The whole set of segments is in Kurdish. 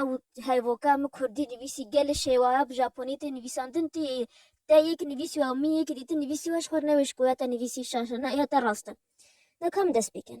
Ew hevokê min kurdî nivîsî gelê şêwaya bi japonî tê nivîsandin tê yê. Te yek nivîsî û min yekî dîtin nivîsî û ji xwe re newêj ku ya te nivîsî şaş e. Na ya te rast e. Na ka min dest pê kin.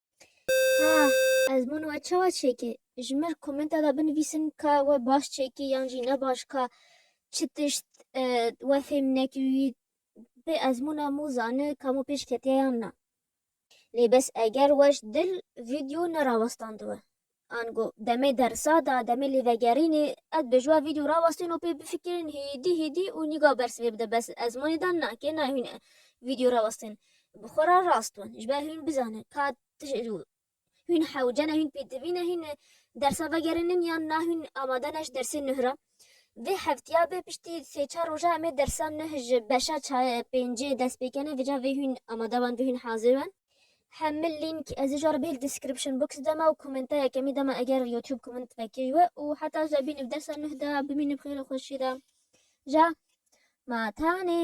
Ha, ez min we çawa çêkê? Ji min komenta da binivîsin ka we baş çêkê yan jî ne baş ka çi tişt e, we fêm nekî wî bi ezmûna mû zani ka mû pêş ketiye yan na. Lê bes eger we ji dil vîdeo nerawestandwe Ango, demê dersa de, demê lêvegerînê, ez dibê ji we vîdyo rawestîn û pê bifikirîn hêdî hêdî û nîga bersiv ê bide bes ez monê dan na kê nayê hûn vîdyo rawestîn bi xwe re rast bin ji ber hûn bizanin ka hûn hewce ne hûn pêdivî ne hîn dersa vegerînin yan na hûn amade ne ji dersê nuh re. Vê hefteya bê piştî sê çar roja em ê dersa nuh ji beşa pêncê dest pê kene vê ca vê hûn amade ben vê hûn hazir ben. Hemû link ez ê ji wan re bihêl description box de me û komenta yekemî de me eger youtube komint vekirî we û heta ji bînî bi dersa nuh de bimînî bi xêr û xweşî de ja ma tenê.